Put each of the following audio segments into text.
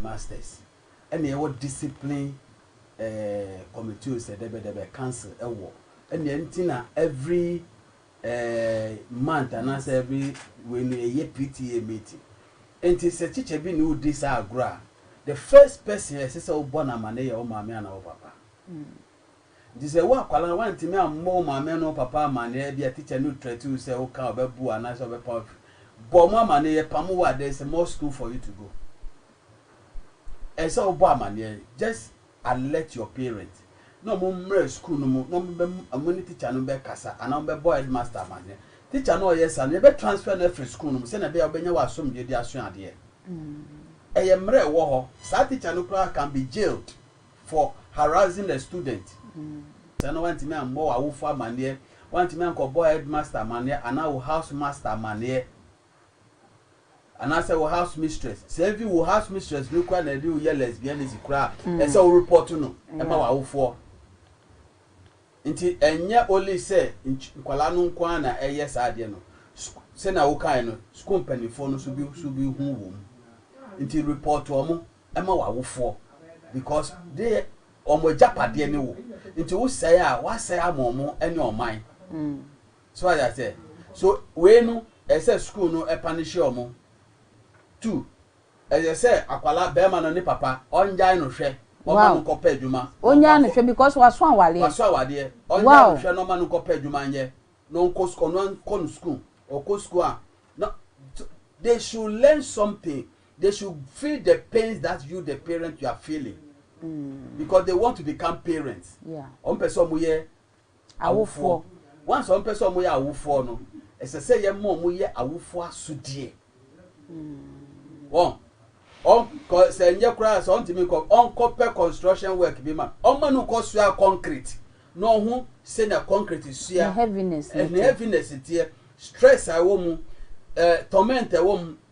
Masters ɛna ɛwɔ discipline eh committee o sɛ dɛbɛ dɛbɛ council ɛwɔ ɛna ɛnti na every eh month anaasɛ every wei no ɛyɛ PTA meeting ɛnti sɛ teacher bi ne odi saa agorɔ a the first person ɛsɛ sɛ wobɔ no amane yɛ wo maame anaa wo papa. Ntsi sɛ wo akwadaa no wanntumi ammɔ wo maame no wo papa amanneɛ, ebia tikya no threat wo sɛ woka a ɔbɛbu wo anaasɛ ɔbɛpa wo efi, bɔ mo amanneɛ, yɛpamo wo a there is more school for you to go. Ɛsɛ sɛ wobɔ amanneɛ, just alert your parent na wɔn mmra school no mu na wɔn bɛ wɔn ne tikya no bɛkasa anaa wɔn bɛbɔ headmaster amanneɛ. Tikya no a ɔyɛ saa no yɛbɛ transfer no afiri school no mu sɛnea ɛbɛyɛ a wobɛnya w'asomdwoeɛ de asua adeɛ. Ɛyɛ mmara a ɛwɔ hɔ. Saa tikya no koraa can be jailed for harassing a student. Sɛ na woantumi ammɔ w'awofo amanneɛ, woantumi ankɔbɔɔ headmaster amanneɛ anaa wo house master amanneɛ, anaasɛ wo house mistress, sɛ even wo house mistress no koraa na ɛde wo yɛ lesbianism koraa a, ɛsɛ sɛ wo report no ma w'awofoɔ. Nti ɛnyɛ only sɛ nkwadaa no nko ara na ɛyɛ saa adeɛ no, sɛnea wokaeɛ no, sukuu mpanimfoɔ no nso bi hu wɔ mu. Nti report wɔn. ma w'awofoɔ because de wɔn agyapadeɛ ne wo nti wo sɛe a w'asɛe ama wɔn ne ɔman so wate aseɛ so wei no ɛyɛ sɛ school no ɛpanehyɛ wɔn tu ɛyɛ sɛ akwala bɛrima no ne papa ɔngyae no hwɛ ɔma no nkɔ pɛ adwuma ɔngyae no hwɛ because waso awadeɛ waso awadeɛ ɔngyae no hwɛ na ɔma no nkɔ pɛ adwuma nyɛ na ɔnkɔ school ɔno ankɔ no school ɔkɔ school a na they should learn something They should feel the pains that you the parent you are feeling because they want to become parents. Yeah. Wɔn pɛ sɛ wɔn yɛ awofoɔ. Once wɔn pɛ sɛ wɔn yɛ awofoɔ no, ɛsɛ sɛ yɛn mma wɔn yɛ awofoɔ asodeɛ. Wɔn wɔn kɔ sɛ nyɛ koraa sɛ wɔn ti mi kɔ wɔn kɔ pɛ construction work bi ma wɔn ma no kɔ sua concrete na wɔn ho sɛ na concrete sua. Ne heaviness ne heaviness teɛ stress a ɛwɔ mu ɛɛ eh, torment a ɛwɔ mu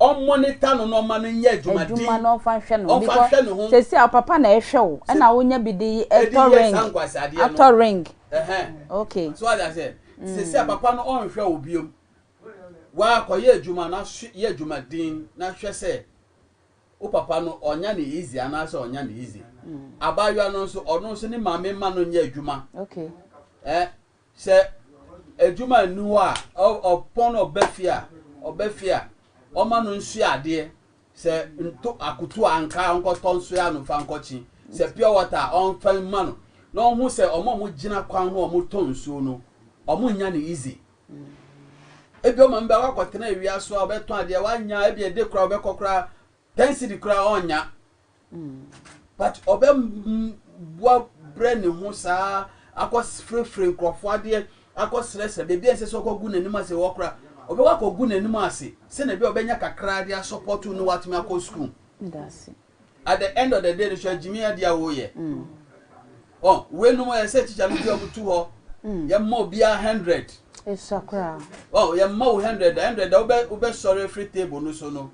Ɔmmonita no na ɔmma no nyɛ adwumaden. Adwuma na ɔmfa nhwɛ ne ho. Ɔmfa nhwɛ ne ho. Seesei a wo papa na ɛrehwɛ wo ɛna wonya bi de yɛ ring. De yɛ saa nkwaseadeɛ no. Atɔ ring. Ɛhɛn. Okay. So wate aseɛ? Mm. Seesei a papa no ɔnhwɛ wo biom. Waa kɔyɛ adwuma na hwɛ yɛ adwumaden na hwɛ sɛ wo papa no ɔnya no easy anaasɛ ɔnya no easy. Abaayewa no nso ɔno nso ne maame mma no nyɛ adwuma. Okay. Ɛɛ Sɛ adwuma nni hɔ a, ɔpɔn no ɔba fie a, ɔba fie a, ɔma no nsoɛ adeɛ. Sɛ nto akutu a, ankaa ɔnkɔtɔ nsoɛ ano mfa nkɔkye. Sɛ pure water a, ɔmfa mma no. Na ɔnhu sɛ wɔn a wɔgyina kwan ho a wɔtɔn nsuo no, wɔnnya no easy. Ebia ɔma no bɛ, wakɔtena awia so a, ɔbɛtɔn adeɛ, wannya a, ebia ɛde koraa ɔbɛkɔ koraa Ten cedi koraa ɔnnya but ɔbɛ boa brɛ ne ho saa akɔ frefre nkurɔfoɔ adeɛ akɔ srɛsrɛ baabi a ɛnsɛ sɛ ɔkɔ gu n'anim ase wɔ kora ɔbɛkɔ akɔ gu n'anim ase sɛ na bi a ɔbɛnya kakra de asɔpɔto no watumi akɔ sukuu at the end of the day no so agyimi adeɛ a wɔyɛ ɔ wɛnum ɛyɛ sɛ tikya no bi a wɔtu hɔ mm. yɛ mma obiara hundred ɛsua koraa ɔ yɛ mma wo hundred hundred a wobɛ wobɛ sɔre free table no so no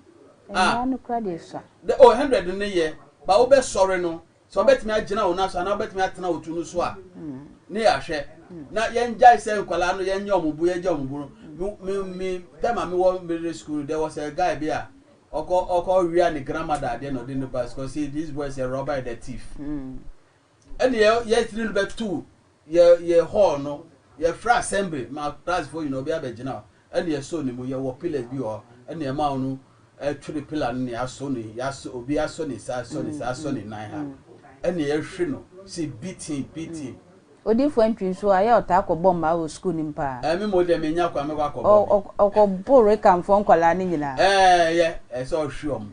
Ah. Mmara no kura deɛ sua. Dɛ oh hundred no yɛ but wo bɛ sɔre no sɛ ɔbɛtumi agyina wo nan so anaa ɔbɛtumi atena wo tu no so a ne yɛ ahwɛ na yɛn gyae sɛ nkwadaa no yɛn nyɛ ɔmo bu yɛn gya ɔmo bu no me me time a me wɔ middle school there was a guy bi a ɔkɔ ɔkɔ wia ne grandmother adeɛ na ɔde ne ba school say these boys are robber and a thief. Ɛnna yɛ yɛtiri no bɛto yɛ yɛ hall no yɛfrɛ assembly ma classfoɔ nyinaa obi abɛgyina hɔ ɛnna yɛsɔ ne mu yɛwɔ pillars bi wɔ hɔ ɛnna yɛma wɔn twere pillar no na yɛasɔ ne yɛasɔ obi asɔ ne nsa asɔ ne nsa asɔ ne nan ha ɛnna yɛhwe no si beating beating. Odiyifoɔ Antwi nso ayɛ ɔtaa kɔbɔ mmaa wɔ sukuu no mu pa ara. Ɛɛ me mmom deɛ mennya kwan mɛkɔ akɔbɔ me. Ɔ ɔ ɔkɔboro Rekanfoɔ nkwadaa no nyinaa. Ɛɛ yɛ ɛsɛ ɔhwe wɔn.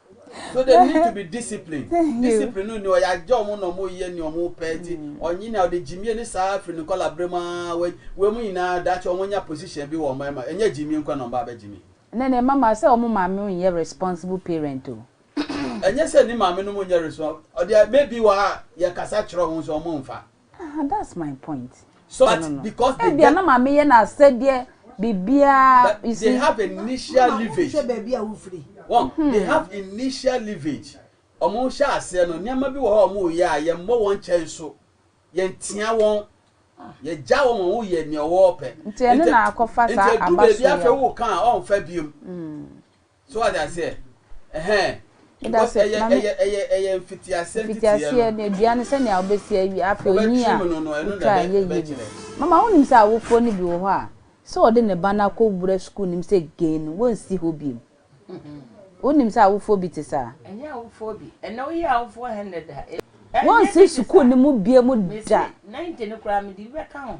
So they need to be disciplined. Discipline no ni ɔyagye ɔmo na ɔmo yɛ ni ɔmo pɛ ti ɔnye ni ɔde gyimie ne saa firi ne nkɔla bere mu aa wei wei mu nyinaa daakye ɔmo nya position bi wɔ ɔmo ɛma ɛnyɛ gyimie nko na ɔmo ba abɛgye mi. Ɛnɛ ne mma ma sɛ ɔmo maame nyɛ responsible parent o. Ɛnyɛ sɛ ne maame nom nyɛ responsible deɛ maybe wɔ ha yɛ kasa kyerɛ ɔmo nso ɔmo nfa. Aha that's my point. So no no no. Ebia na maame yɛ n'asɛdeɛ biribiara. You see. They have initial leverage. Wɔn baabi a wofiri. Wɔn hmm. they have initial leverage. Wɔn hyɛ aseɛ no nneɛma bi wɔ hɔ a wɔn reyɛ a yɛn mmɔ wɔn kyɛn so yɛn tia wɔn ah. yɛgya wɔn wɔn yɛ nea ɔwɔ pɛ. Nti ɛno na akɔfa saa aba so yɛ. Nti edu baabi afɛ wo kan a ɔnfa biom. Hmm. So wate aseɛ? Ɛhɛn. Because ɛyɛ, ɛyɛ, ɛyɛ, ɛyɛ mfitiaseɛ nteteɛ no. Mfitiaseɛ no, dua no sɛdeɛ wobɛsi awie, afei onyin a wotwa a ɛnyɛ yie no. Mama, wonim sɛ awofoɔ no bi wɔ hɔ a, sɛ ɔde ne ba no akɔwura sukuu no mu sɛ gay no, wɔnsi hɔ bio. Wonim sɛ awofoɔ bi te saa? Ɛnyɛ awofoɔ bi. Ɛnnɛ woyɛ awofoɔ hɛn nnɛ da. Wɔnsi sukuu no mu bio da. Mese, 90 no koraa mede bi bɛka ho.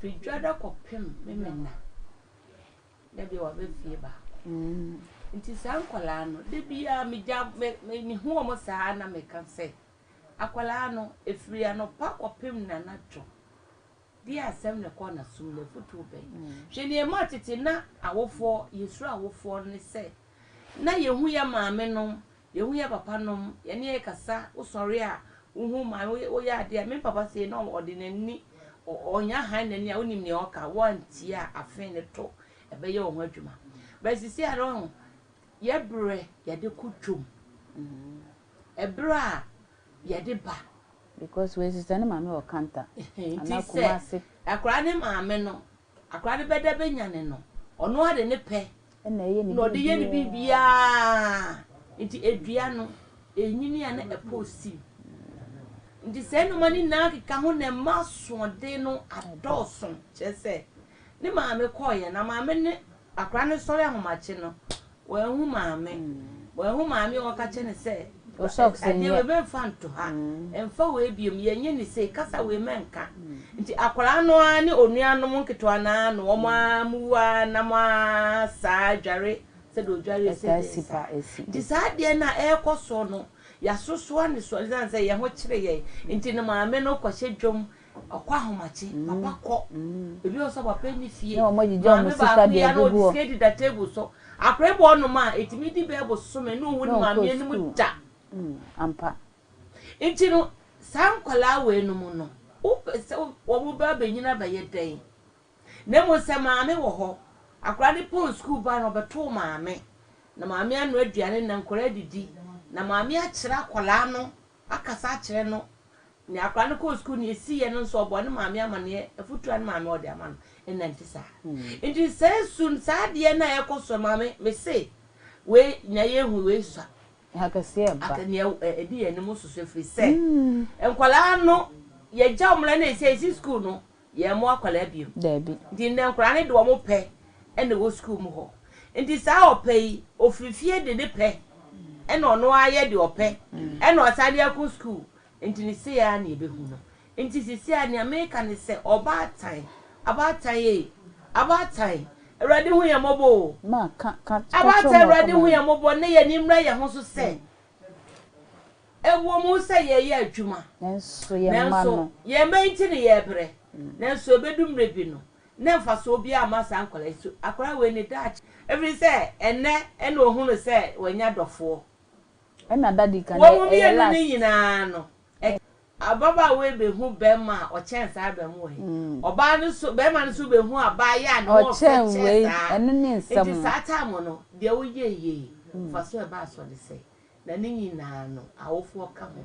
Firi dwada kɔpem memena. Da biara waba fie baako. Nti saa nkwadaa no, da biara megya me me mehu wɔn saa ara na meka sɛ, akwadaa no, ɛfiri anɔpa kɔpem nanadwo, deɛ asɛm na ɛkɔ n'asom no, afotuo bɛn? Hwɛ deɛ ɛmaa tete na awofoɔ, yɛsuro awofoɔ ne sɛ, na yɛhu yɛn maamenom Yɛhu yɛ papa nom, yɛne yɛ kasa, wo sɔre a, wo hu man, wo wo yɛ adeɛ a, me papa sei na ɔde n'ani, ɔ ɔnya han n'ani a, wo nim nea ɔka, wo antie a, afee no to, ɛbɛyɛ wo ho adwuma. But sisi a no wahu, yɛ berɛ yɛde ko twom, ɛberɛ a yɛde ba. Because wei sesɛ ne maame wɔ kanta, anaa kumase. Ti sɛ, akwadaa ne maame no, Akora no bɛda bɛnyane no, ɔno ara de ne pɛ na ɔde yɛ ne biribiara. Nti ɛdua no, ɛnyini a na ɛpɔ ɔsim. Nti saa nnoɔma no nyinaa keka ho na ɛma asoɔden no adɔɔso. Kyerɛ sɛ, ne maame kɔeɛ na maame ne Akwadaa no sɔre ahomakye no, wanhu maame. Wanhu maame a ɔka kyerɛ no sɛ, Adeɛ wei mɛmfa nto ha. Mfa wei biom. Yɛnyɛ no sei. Kasa wei mɛnka. Nti akwadaa no ara ne onuanom nketewa no ara na wɔn ara mu wu ara na moasaa adware sɛdeɛ ɔdware ɛsɛdɛɛ saa. Nti saa adeɛ no a ɛrekɔ soɔ no, yɛasosoa no soɔ esiane sɛ yɛn ho kyere yɛn nti no maame no kɔhyɛ dwam Ɔkɔ ahomakye, papa kɔ. Ebi wɔ hɔ nso a wapɛ ne fie. Na wɔagyigya wɔn sika de agugu hɔ. Maame baako yi ara na ɔde sika adi da table so. Akwadaa yi bɔ ɔnom a, ɛtumi di bɛyɛ bosome na ɔnhu ne maame anim da. Ampa. Nti no, saa nkwadaa weinom no, wopɛ sɛ wɔbɛba abɛnyini abɛyɛ dɛn? Na mmom sɛ maame wɔ hɔ, akwadaa no pɔn sukuu bag no, ɔbɛtow maame, na maame anoa aduane na nkwadaa adidi, na maame akyerɛ akwadaa no Akasa akyerɛ no nea akwadaa no kɔɔ sukuu, nea esiiɛ no nso ɔbɔ ne maame amaneɛ, afutuo a ne maame wɔ de ama no nna nti saa. Nti saa su no, saa adeɛ no a ɛrekɔ so no, maame me se wei nea yɛhu wei sua. Akɛseɛ ba. Aka nea ɛdi yɛn anim nso so ɛfiri sɛ nkwadaa no yɛgya wɔn na ɛsɛ yɛsi sukuu no, yɛn mo akwadaa biom. Dabi. Nti ndɛ nkwadaa no de wɔn pɛ na ɛwɔ sukuu mu hɔ. Nti saa ɔpɛ yi, ofiri fie de ne pɛ na ɔno ara yɛ deɛ ɔpɛ na ɔsan de ako sukuu. Nti no sei ara na yɛbɛhu no. Nti seesei ara nea meka ne sɛ, ɔbaatan, abaatan ei, abaatan, Awurade hu yɛn mmɔbɔ o. Ma, ka, ka, ka kyerɛ wɔn Abaatan, wɔn Awurade hu akoma yɛn no. mmɔbɔ na yɛn ani mmra yɛn ho so sɛ Ɛwom sɛ yɛyɛ adwuma, nanso yɛn mma nti na yɛbrɛ. Nanso ebedu mmere bi no, na mfaso biara mma saa nkwadaa yi so. Akwadaa wei ne daakye, ɛfiri sɛ ɛnnɛ na ohu no sɛ wanya dɔfoɔ. Wɔn mmienu no nyinaa no, Ababaawa yi behu bɛrima a ɔkyɛn saa ba mu ei. Ɔbaa no nso, bɛrima no nso behu abaayewa a ne ho ɔfɛ kyɛn saa. Enti saa time no, deɛ woyɛeɛ yi, mfasoɔ a ɛbaa so ne sɛ, na ne nyinaa no, awofoɔ ka ho.